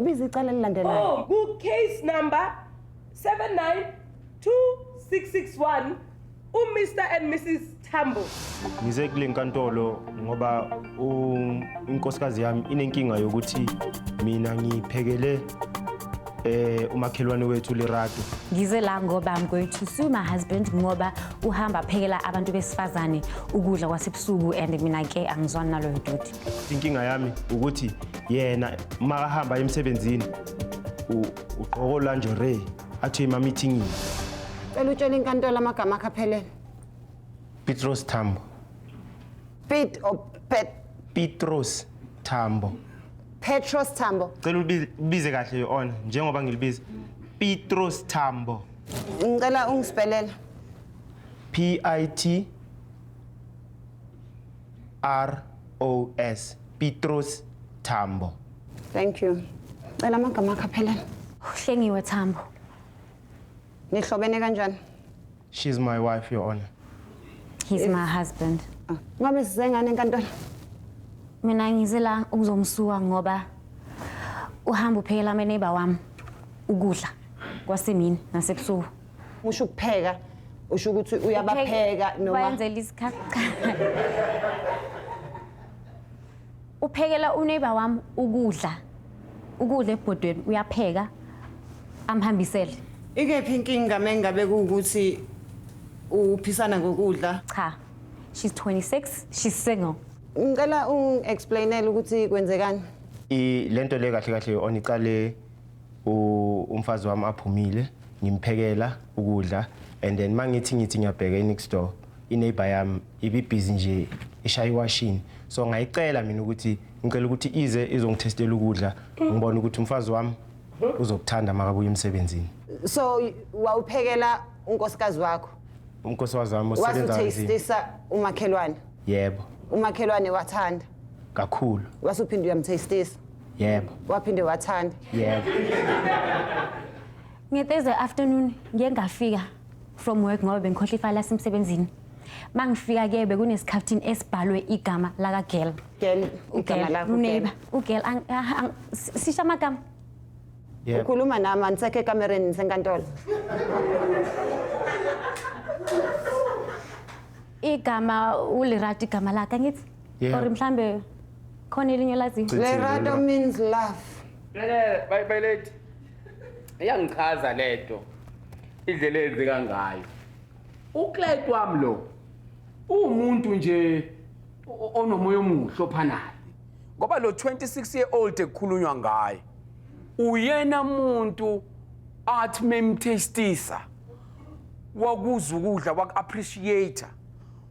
biza icala elilandelayo Oh, ku case number 792661 u Mr and Mrs Tambo. Ngize kule nkantolo ngoba u- inkosikazi yami inenkinga yokuthi mina ngiphekele eh umakhelwane wethu Lerato. Ngize la ngoba I'm going to sue my husband ngoba uhamba phekela abantu besifazane ukudla kwasebusuku and mina ke angizwani naloyo doti. inkinga yami ukuthi yena uma ahamba emsebenzini u- ugqoka olanjorey athi emamithingini Cela utshele inkantolo amagama akhe aphelele. petros tambo Pete or Pet petros tambo Petros Tambo. cela ulibi- ubize kahle your honor njengoba ngilibiza petros tambo Ngicela ungispelela. p i t ROS Petros Tambo. Thank you. Cela amagama akho aphelele. Uhlengiwe Tambo. Nihlobene kanjani? She's my wife, Your Honor. He's my husband. Ah, Ngabe size ngane enkantolo? Mina ngize la ukuzomsuka ngoba uhamba uphekela ameneighbor wami ukudla kwasemini nasebusuku. usho ukupheka usho ukuthi uyabapheka noma bayenzela isikhakha uphekela uneighbor wami ukudla ukudla ebhodweni uyapheka amhambisele ikephi inkinga mengabe kuwukuthi uphisana ngokudla cha she's 26 she's single ngicela ungi-explainele ukuthi kwenzekani I- le nto le kahle kahle oniqale u- umfazi wami aphumile ngimphekela ukudla and then mangithi ngithi ngiyabheka inext door ineighbor yami ibibhizi nje ishaya iwashini so ngayicela mina ukuthi ngicela ukuthi ize izongithestela ukudla ngibona ukuthi umfazi wami uzokuthanda makabuya emsebenzini so wawuphekela unkosikazi wakho umkosikazi wami osebenza kanzima wasutastisa umakhelwane yebo umakhelwane wathanda kakhulu wasuphinde uyamtastisa yebo waphinde wathanda yebo ngethursday afternoon ngiye ngafika from work ngoba bengikhohle ifayela lasemsebenzini uma ngifika ke bekunesikhaftini esibhalwe igama lakagirl girl igama lakho uneighbor ugirl ang- ah, ang- si- sisho amagama yebo ukhuluma nami andisekho ekamereni nisenkantolo igama ulirati igama lakhe angithi Yebo. or mhlambe khona elinye olaziyo Cithi, Lerado Lerado. means love. Lele bye bye late. Iyangichaza lento. Indlela enzeka ngayo. Uclate wami lo. Umuntu nje o- onomoya omuhle ophanayo. Ngoba lo 26 year old ekukhulunywa ngaye uyena muntu athi memtastisa wakuza ukudla waku appreciate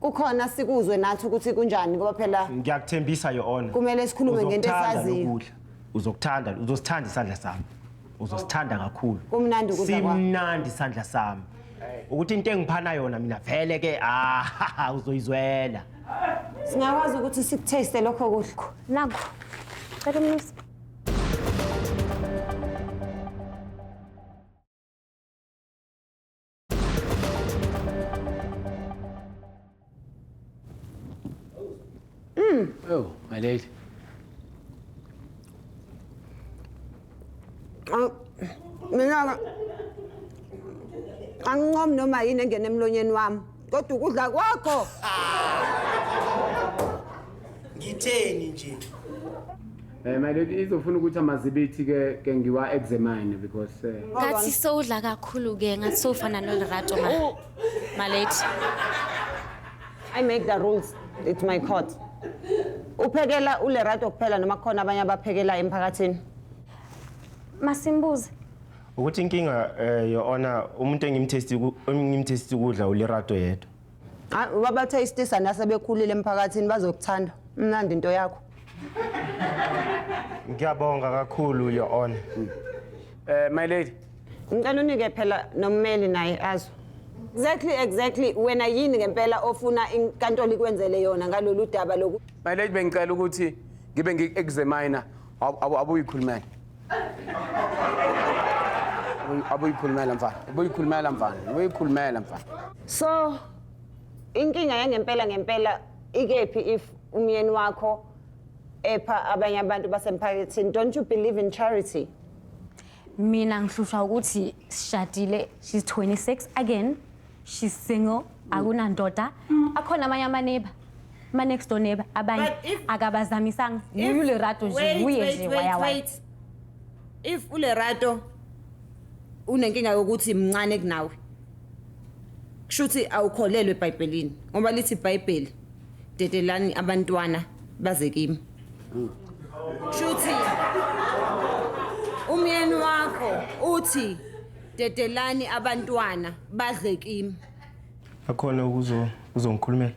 kukhona sikuzwe nathi ukuthi kunjani ngoba phela ngiyakuthembisa your honor Kumele sikhulume ngento Uzokuthanda esaziyo. lokudla. uzokuthanda uzosithanda isandla sami uzosithanda kakhulu Kumnandi ukudla kwakho. simnandi isandla sami ukuthi into engiphana yona mina vele ke ah uzoyizwela singakwazi ukuthi sikutaste lokho kudla Naku. Cela umnisi. Oh, my lady. Ang- Mina angincom noma yini engena emlonyeni wami kodwa ukudla kwakho ngitheni nje Eh my lady izofuna ukuthi amazibithi ke ke ngiwa examine because eh, ngathi sowudla kakhulu ke ngathi sowufana nolerato ma malate I make the rules. It's my court. Uphekela uLerato kuphela noma khona abanye abaphekela emphakathini. masimbuze ukuthi inkinga eh your honor umuntu engimtesti engimtesti ukudla ulirato yedwa Ah, wabathayistisa nasebekhulile emphakathini bazokuthanda mnandi into yakho ngiyabonga kakhulu your honor Eh my lady. ngicela unike phela nommeli naye azwe exactly exactly wena yini ngempela ofuna inkantolo ikwenzele yona ngalolu daba loku My lady bengicela ukuthi ngibe ngi-examiner Ab- abu- abuyikhulumela Abuyi- abuyikhulumela mfana abuyikhulumela mfana abuyikhulumela mfana so inkinga yangempela ngempela ikephi if umyeni wakho epha abanye abantu basemphakathini don't you believe in charity mina ngihlushwa ukuthi sishadile she's 26 again she's single akunandoda akhona amanye amaneba ma next door neba abanye But if- akabazamisanga If- nguye ulerato nje Wait, nguye wait, nje wait, waya waya wait. if ulerato unenkinga yokuthi mncane kunawe kusho ukuthi awukholelwe ebhayibhelini ngoba lithi ibhayibheli dedelani abantwana baze kimi kusho ukuthi umyeni wakho uthi Dedelani abantwana badle kimi. Akhona ukuzo uzongikhulumela.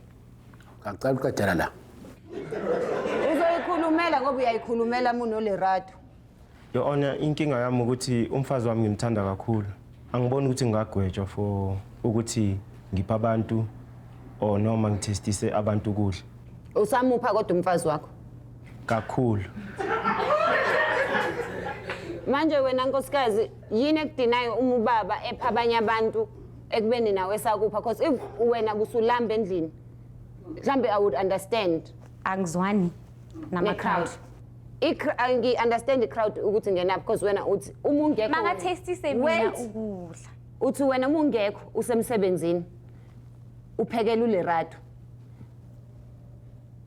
Ngicela uqedela la. Uzoyikhulumela ngoba uyayikhulumela muno Lerato. Your Honor, inkinga yami ukuthi umfazi wami ngimthanda kakhulu. Angiboni ukuthi ngingagwetshwa for ukuthi ngipha abantu or noma ngithestise abantu ukudla. Usamupha kodwa umfazi wakho. Kakhulu. Manje wena nkosikazi yini ekudinayo uma ubaba epha abanye abantu ekubeni nawe esakupha because if wena kusulamba endlini mhlambe i would understand angizwani nama-crowd ne-crowd Ikr- ah, ngi-understand i-crowd ukuthi ngena because wena uthi uma ungekho wena- makathestise mina Wait. ukudla uthi wena uma ungekho usemsebenzini uphekela ulerado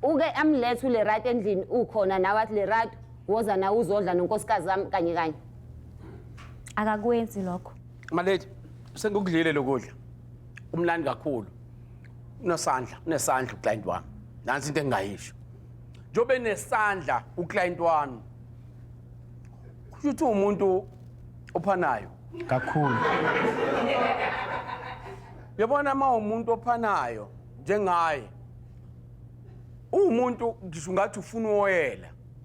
uke amlethe ulerado endlini ukhona nawe athi lerado woza nawe uzodla nonkosikazi wami kanye kanye akakwenzi lokho Malady, sengikudlile lokudla. Umlandi kakhulu. Unesandla, unesandla uclient wami. Nansi into engingayisho. Njobe nesandla uclient wami. Kusho ukuthi umuntu ophanayo. kakhulu Yabona uma umuntu ophanayo njengaye. Umuntu ngisho ngathi ufuna uwoyela.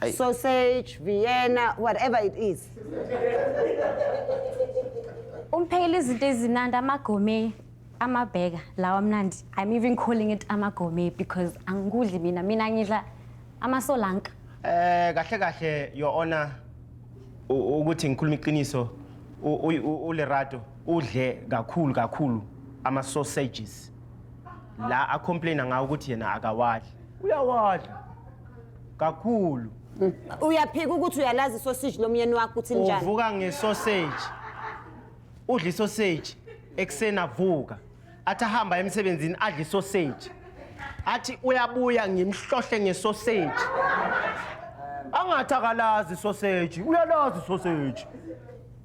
Ayi. sausage vienna whatever it is Umphekela izinto ezinandi amagome amabheka lawa amnandi. I'm even calling it amagome because angikudli mina mina ngidla amasolanka. Eh kahle kahle your honor u- ukuthi ngikhuluma iqiniso u- u- u- uLerato udle kakhulu kakhulu ama sausages la a complaina ngawo ukuthi yena akawadli uyawadla kakhulu uyaphika ukuthi uyalazi isoseji lomyeni wakho ukuthi linjani uvuka ngesoseji udla isoseji ekuseni avuka athi ahamba emsebenzini adla isoseji athi uyabuya ngimhlohle ngesoseji angathi akalazi isoseji uyalazi isoseji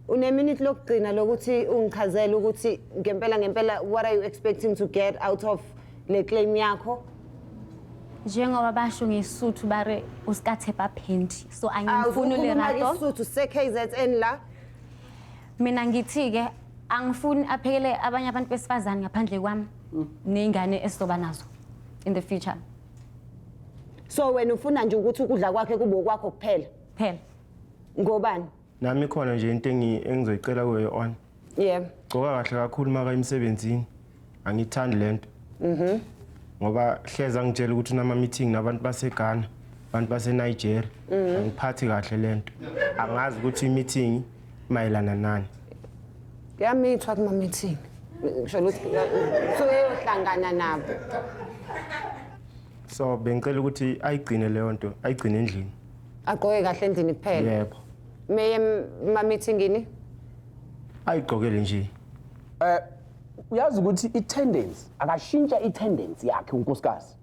uneminute lokugcina lokuthi ungichazele ukuthi ngempela ngempela what are you expecting to get out of le claim yakho njengoba basho ngesuthu bare usikathepa phendi so angimfuni lerato isuthu se-kzn la mina ngithi-ke angifuni aphekele abanye abantu besifazane ngaphandle kwami mm. ney'ngane esizoba nazo in the future so wena ufuna nje ukuthi ukudla kwakhe kube okwakho kuphela kuphela ngobani Nami khona nje into engi- engizoyicela kuyo your honor. Yebo. Gcoka kahle kakhulu maka emsebenzini. Angithandi lento. Mhm. Ngoba hleza ngitshela ukuthi unama meeting nabantu baseGhana, abantu baseNigeria. Mhm. Angiphathi kahle lento. Angazi ukuthi imeeting mayelana nani. Yamithwa kuma meeting. Ngisho ukuthi suke yohlangana nabo. So bengicela ukuthi ayigcine leyo nto, ayigcine endlini. agqoke kahle endlini kuphela yebo meye mamithingini ayigqokele nje eh uyazi ukuthi i-tendency akashintsha i-tendency yakhe unkosikazi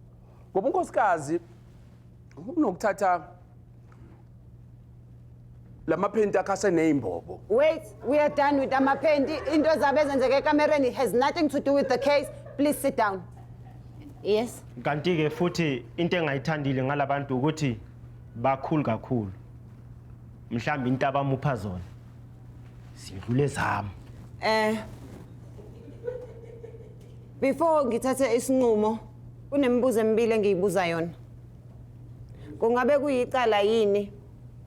ngoba unkosikazi unokuthatha lamaphenti akhe aseneyimbobo wait we are done with amaphenti into zabe ezenzeka ekamereni has nothing to do with the case please sit down yes kanti-ke futhi into engayithandile ngalabantu ukuthi bakhulu kakhulu mhlawumbe into abamupha zona sidlule zami Eh Before ngithathe isinqumo kunemibuzo emibili engiyibuza yona. Kungabe kuyicala yini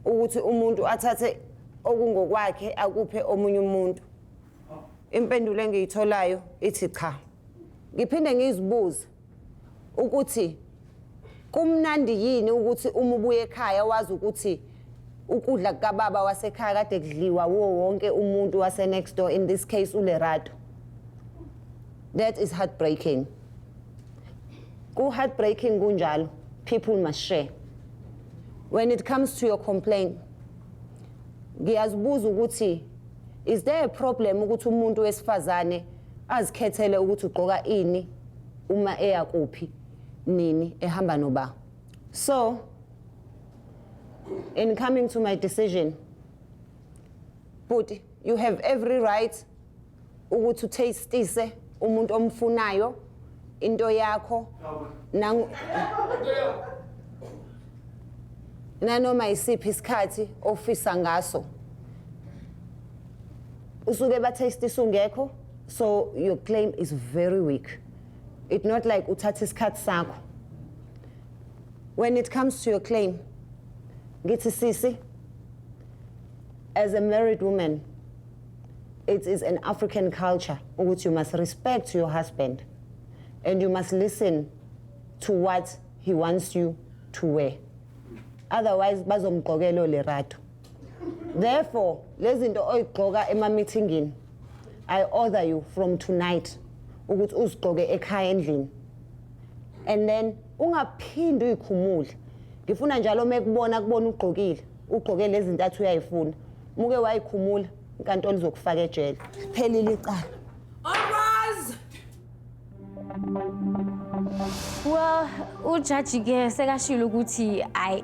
ukuthi umuntu athathe okungokwakhe akuphe omunye umuntu? Impendulo engiyitholayo ithi cha. Ngiphinde ngizibuze ukuthi kumnandi yini ukuthi uma ubuye ekhaya wazi ukuthi ukudla kukababa wasekhaya kade kudliwa wuwo wonke umuntu wase-next door in this case ulerato that is heartbreaking ku-heartbreaking kunjalo people must share when it comes to your complaint ngiyazibuza ukuthi Is there a problem ukuthi umuntu wesifazane azikhethele ukuthi ugqoka ini uma eya kuphi nini ehamba noba? So in coming to my decision bhuti you have every right ukuthi uthastise umuntu omfunayo into yakho nangu nanoma isiphi isikhathi ofisa ngaso usuke batest isungekho so your claim is very weak it not like uthatha isikhathi sakho when it comes to your claim ngithi sisi as a married woman it is an African culture ukuthi you must respect your husband and you must listen to what he wants you to wear otherwise bazomgqokela olerato therefore lezi zinto oyigqoka ema-meetingini i order you from tonight ukuthi uzigqoke ekhaya endlini and then ungaphindi uyikhumule ngifuna njalo uma ekubona kubona ugqokile ugqoke lezi ntathu uyayifuna muke wayikhumula inkantolo izokufaka ejele phelile icala Well, ujaji ke sekashilo ukuthi I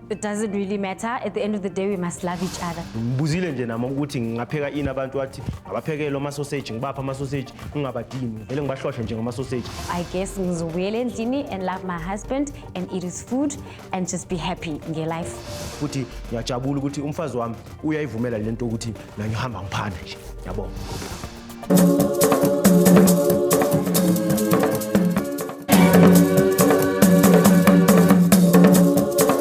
it doesn't really matter at the end of the day we must love each other. Ngibuzile nje nami ukuthi ngingapheka ini abantu wathi ngabaphekele ama sausage ngibapha ama sausage ngingabadini vele ngibahlohle nje ngama sausage. I guess ngizobuyela endlini and love my husband and eat his food and just be happy nge life futhi ngiyajabula ukuthi umfazi wami uyayivumela lento ukuthi mina ngihamba ngiphanda nje yabo